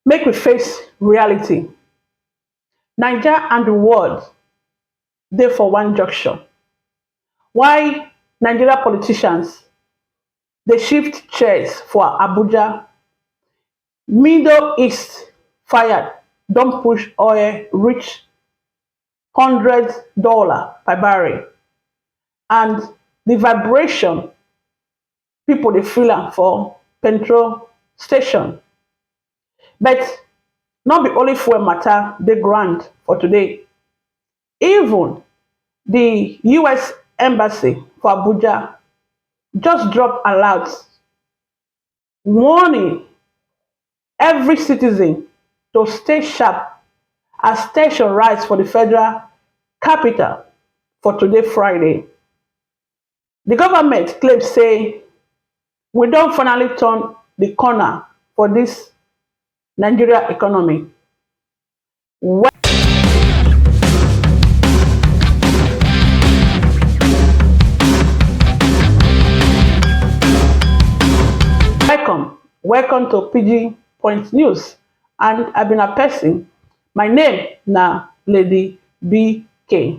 Make we face reality, Naija and di world dey for one junction, while Nigeria politicians dey shift chairs for Abuja, middle east fire don push oil reach hundred dollar per barrel and di vibration pipo dey fill am for petrol station but nor be only fuel mata dey ground for today even di us embassy for Abuja just drop alert warning every citizen to stay sharp as ten sion rise for di federal capital for today Friday. Di government claim say we don finally turn di corner for dis Nigeria economy. Welcome, welcome to Pidgin Point News and I be na person, my name na Lady BK.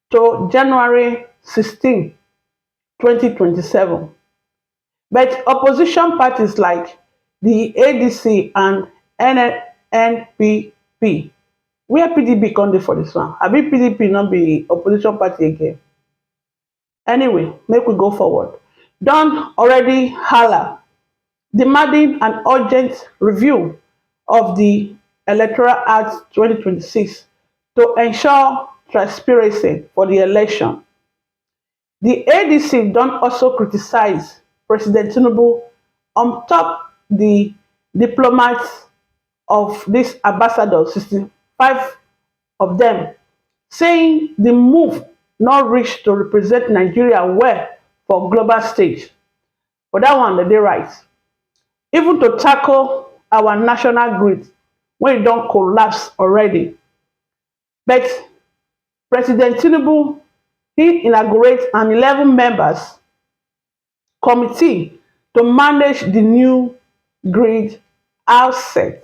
to january sixteen twenty twenty seven but opposition parties like di adc and nnpp wia pdp come dey for dis one abi pdp no be opposition party again anyway make we go forward don already hala demanding an urgent review of di electoral act twenty twenty six to ensure transparency for di election di adc don also criticise president tinubu on top di diplomat of dis ambassadors sixty five of dem saying di move no reach to represent nigeria well for global stage for dat one dem dey right even to tackle our national grid wey e don collapse already but president tinubu he inaugurate an eleven members committee to manage di new grid outset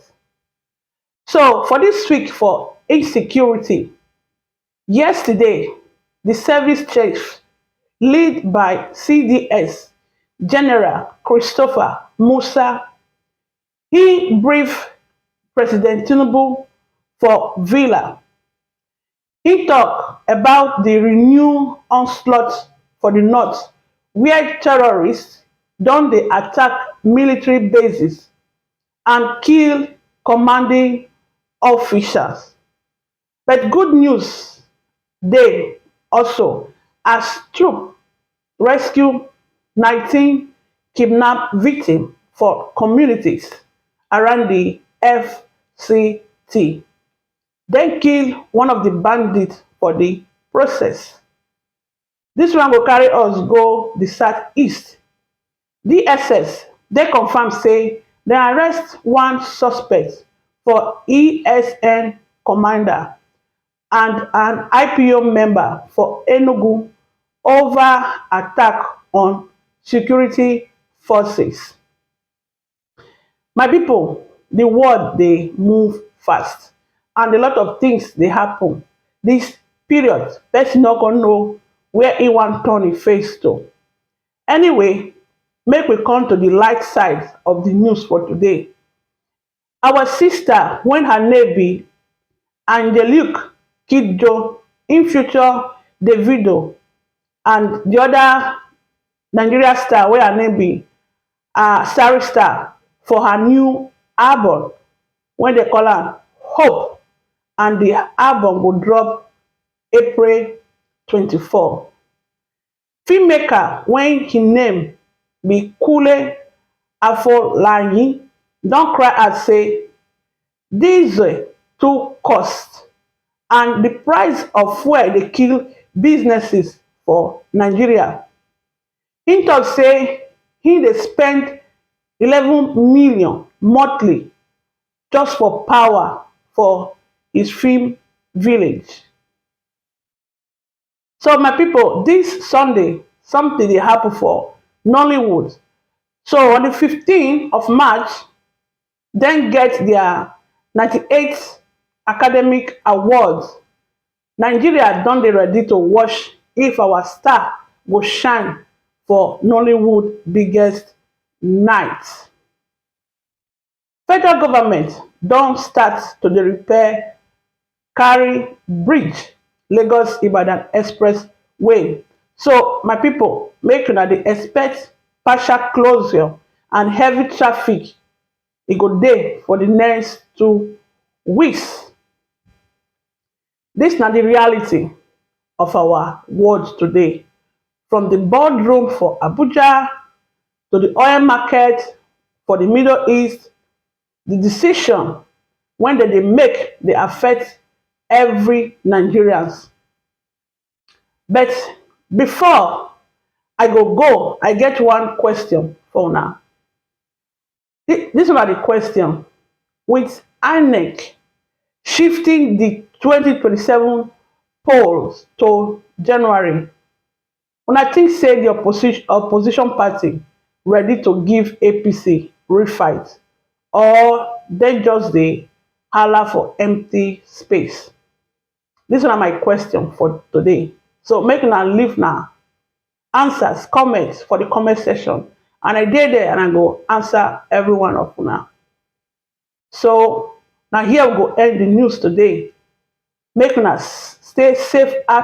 So for dis week for insecurity, yesterday di service chief lead by CDS General Christopher Musa, im brief President Tinubu for villa. Im tok about di renewed onslaught for di north wia terrorists don dey attack military bases and kill commanding officials. But good news dey also as troop rescue nineteen kidnap victim for communities around di FCT. Dem kill one of di bandits for di process. Dis one go carry us go di south east. DSS den confam say dem arrest one suspect for ESN commander and an ipob member for Enugu ova attack on security forces. My pipu di world dey move fast and a lot of tins dey happen dis period pesin nor kon know where e wan turn e face to. Anyway make we come to di light side of di news for today, our sista wey her name be Angelique kidjo im feature Davido and di oda Nigeria star wey her name be um Starry Star for her new album wey dem call am Hope and di album go drop April twenty four. Film maker wey im name be Kunle Afolayan don cry out say diesel too cost and di price of fuel dey kill businesses for Nigeria. Im tok sey im dey spend eleven million monthly just for power for im film village. So my people, this Sunday, something dey happen for Nollywood. So on the 15th of March, then get their 98th Academic Awards. Nigeria don dey ready to watch if our star go shine for Nollywood biggest night. Federal government don start to dey repair carry bridge Lagos Ibadan express way so my pipo make una dey expect partial closure and heavy traffic e go dey for di next two weeks. Dis na di reality of our world today from di boardroom for Abuja to di oil market for di middle east, di decision wen dem dey make dey affect every Nigerians. But before I go go, I get one question for una. Thi- This one na the question. With INEC shifting the 2027 polls to January, una think say the opposition opposition party ready to give APC real fight or dem just dey hala for empty space? This one na my question for today. So make una leave na answers, comments for the comment section and I dey there and I go answer every one of una. So na here we go end the news today. Make una stay safe out.